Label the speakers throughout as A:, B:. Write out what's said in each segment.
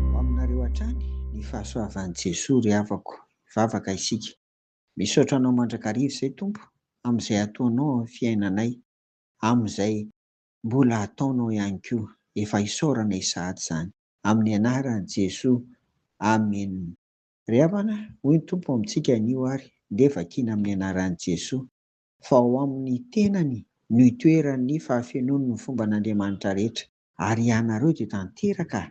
A: Ho aminareo hatrany ny fahasoavan'i Jesoa ry havako. Hivavaka isika. Misaotra Anao mandrakariva izay Tompo amin'izay ataonao amin'ny fiainanay, amin'izay mbola ataonao ihany koa. Efa isaorana izy sahady izany. Amin'ny anaran'i Jesoa. Amen. Ry havana, hoy ny Tompo amintsika anio ary, ndeha vakiana amin'ny anaran'i Jesoa. fa ao amin'ny tenany no itoeran'ny fahafenoan'ny fomban'Andriamanitra rehetra, ary ianareo dia tanteraka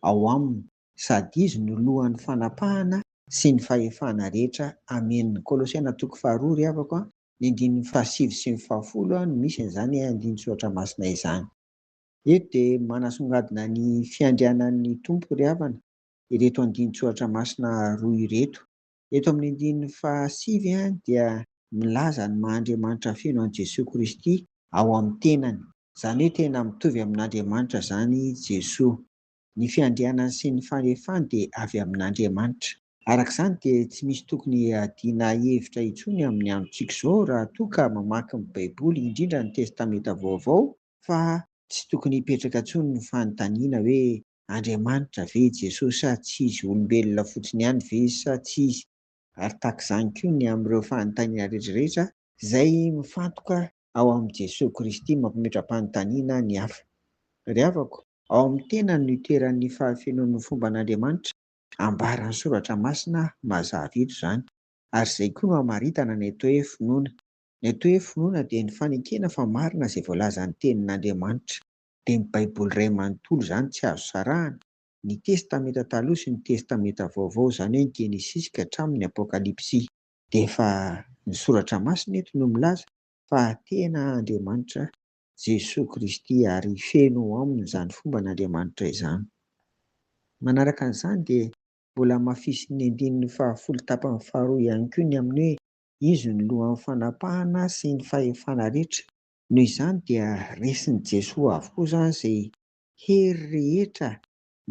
A: ao aminy, sady izy no lohan'ny fanapahana sy ny fahefana rehetra. Amena. Kolosiana toko faharoa ry havako a, ny andininy fahasivy sy ny fahafolo a, no misy an'izany andinin-tsoratra masina izany. Eto dia manasongadina ny fiandrianan'ny Tompo ry havana ireto andinin-tsoratra masina roa ireto. Eto amin'ny andininy fahasivy dia milaza ny maha Andriamanitra feno an'i Jesoa Kristy ao amin'ny tenany. Izany hoe tena mitovy amin'Andriamanitra izany i Jesoa. Ny fiandrianany sy ny fahefany dia avy amin'Andriamanitra. Araka izany dia tsy misy tokony hiadiana hevitra intsony amin'ny androntsika izao raha toa ka mamaky ny Baiboly, indrindra ny Testamenta Vaovao, fa tsy tokony hipetraka intsony ny fanontaniana hoe Andriamanitra ve i Jesoa sa tsy izy, olombelona fotsiny ihany ve izy sa tsy izy, ary tahaka izany koa ny amin'ireo fanontaniana rehetrarehetra izay mifantoka ao amin'i Jesoa Kristy mampimetram-panontaniana ny hafa. Ry havako, ao amin'ny tenany no itoeran'ny fahafenoan'ny fomban'Andriamanitra, ambaran'ny Soratra Masina mazava eto izany, ary izay koa no hamaritana ny atao hoe finoana, Ny atao hoe finoana dia ny fanekena fa marina izay voalazan'ny Tenin'Andriamanitra. Dia ny Baiboly iray manontolo izany tsy azo sarahana, ny Testamenta Taloha sy ny Testamenta Vaovao, izany hoe ny Genesisy ka hatramin'ny Apokalypsy. Dia efa ny Soratra Masina eto no milaza fa tena Andriamanitra Jesoa Kristy ary feno ao aminy izany fomban'Andriamanitra izany. Manaraka an'izany dia mbola hamafisin'ny andininy fahafolo tapany faharoa ihany koa ny amin'ny hoe Izy no lohan'ny fanapahana sy ny fahefana rehetra. Noho izany dia resin'i Jesoa avokoa izany izay hery rehetra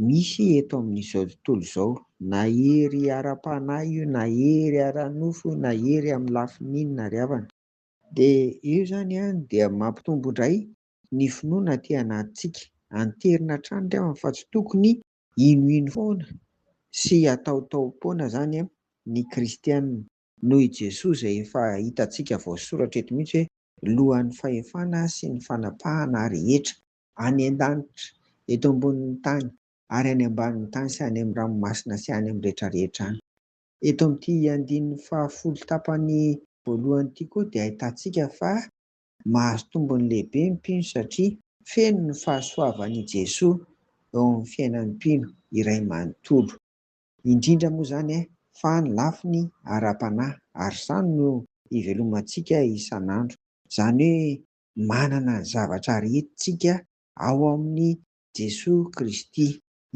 A: misy eto amin'izao tontolo izao, na hery ara-panahy io, na hery ara-nofo io, na hery amin'ny lafiny inona ary havana. Dia io izany dia mampitombo indray ny finoana aty anatintsika. Anterina hatrany ry havana fa tsy tokony hinohino foana sy hataotaom-poana izany ny kristiana. noho i Jesoa izay efa hitantsika voasoratra eto mihitsy hoe Lohan'ny fahefana sy ny fanapahana rehetra, any an-danitra, eto ambonin'ny tany, ary any ambanin'ny tany sy any amin'ny ranomasina sy any amin'ny rehetra rehetra any. Eto amin'ity andininy fahafolo tapany voalohany ity koa dia ahitantsika fa mahazo tombony lehibe ny mpino satria feno ny fahasoavan' i Jesoa eo amin'ny fiainan'ny mpino iray manontolo. Indrindra moa izany eh, fa ny lafiny ara-panahy, ary izany no ivelomantsika isan'andro. Izany hoe manana ny zavatra aritintsika ao amin'i Jesoa Kristy.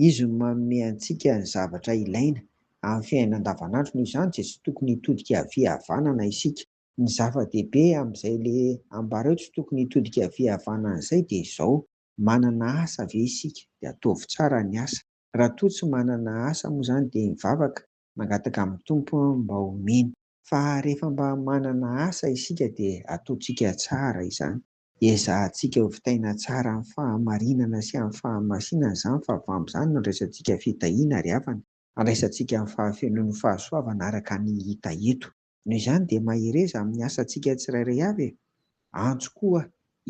A: Izy no manome antsika ny zavatra ilaina amin'ny fiainana andavanandro, noho izany dia tsy tokony hitodika havia havanana isika. Ny zava-dehibe amin'izay ilay ambara eo tsy tokony hitodika havia havanana izay dia izao, manana asa ve isika? Dia ataovy tsara ny asa. Raha toa tsy manana asa moa izany dia mivavaka, mangataka amin'ny Tompo mba omeny. Fa rehefa mba manana asa isika dia ataontsika tsara izany. Ezahantsika hovitaina tsara amin'ny fahamarinana sy amin'ny fahamasinana izany fa avy amin'izany no andraisantsika fitahiana ary havana, andraisantsika ny fahafenoan'ny fahasoavana araka ny hita eto. Noho izany dia mahereza amin'ny asantsika tsirairay avy e! Antso koa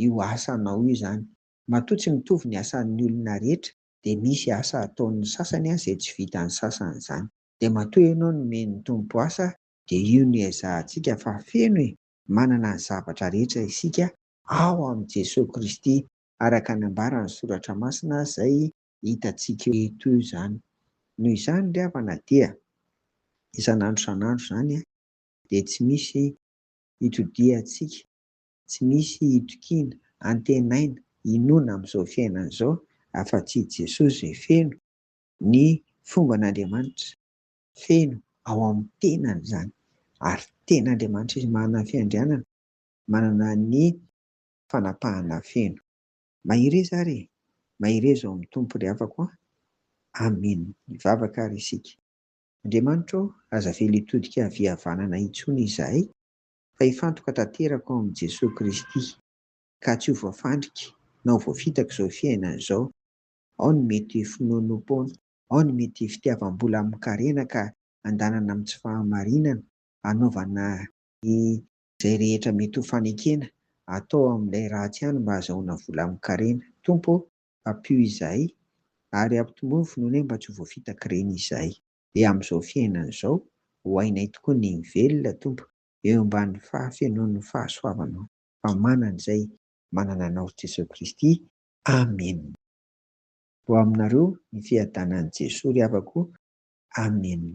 A: io asanao io izany. Matoa tsy mitovy ny asan'ny olona rehetra dia misy asa ataon'ny sasany izay tsy vitan'ny sasany izany. Dia matoa ianao nomen'ny Tompo asa dia io no ezahantsika fa feno e! manana ny zavatra rehetra isika ao amin'i Jesoa Kristy araka ny ambaran'ny Soratra Masina izay hitantsika eto izany. Noho izany ry havana dia isan'andro isan'andro izany dia tsy misy itodihantsika. Tsy misy itokiana, antenaina, inoana amin'izao fiainana izao afa-tsy i Jesoa izay feno ny fomban'Andriamanitra. Feno ao amin'ny tenany izany ary tena Andriamanitra izy manana ny fiandrianana, manana ny fanapahana feno. Mahereza ary e! Mahereza ao amin'ny Tompo ry havako a! Amen! Hivavaka ary isika. Andriamanitra ô, aza avela hitodika havia havanana intsony izahay fa hifantoka tanteraka ao amin'i Jesoa Kristy, ka tsy ho voafandrika na ho voafitaka izao fiainana izao, ao ny mety finoanoam-poana, ao ny mety fitiavam-bola amin-karena ka andanana amin'ny tsy fahamarinana, anaovana izay rehetra mety ho fanekena atao amin'ilay ratsy ihany mba hazahoana vola amin-karena. Tompo ô, ampio izahay ary ampitombo ny finoanay mba tsy ho voafitak'ireny izahay. dia amin'izao fiainana izao, ho hainay tokoa ny hivelona, Tompo, eo ambany fahafenoan'ny fahasoavanao, fa manana izay manana Anao Jesosy Kristy. Amena. Ho aminareo ny fiadanan'i Jesoa ry havako. Amena.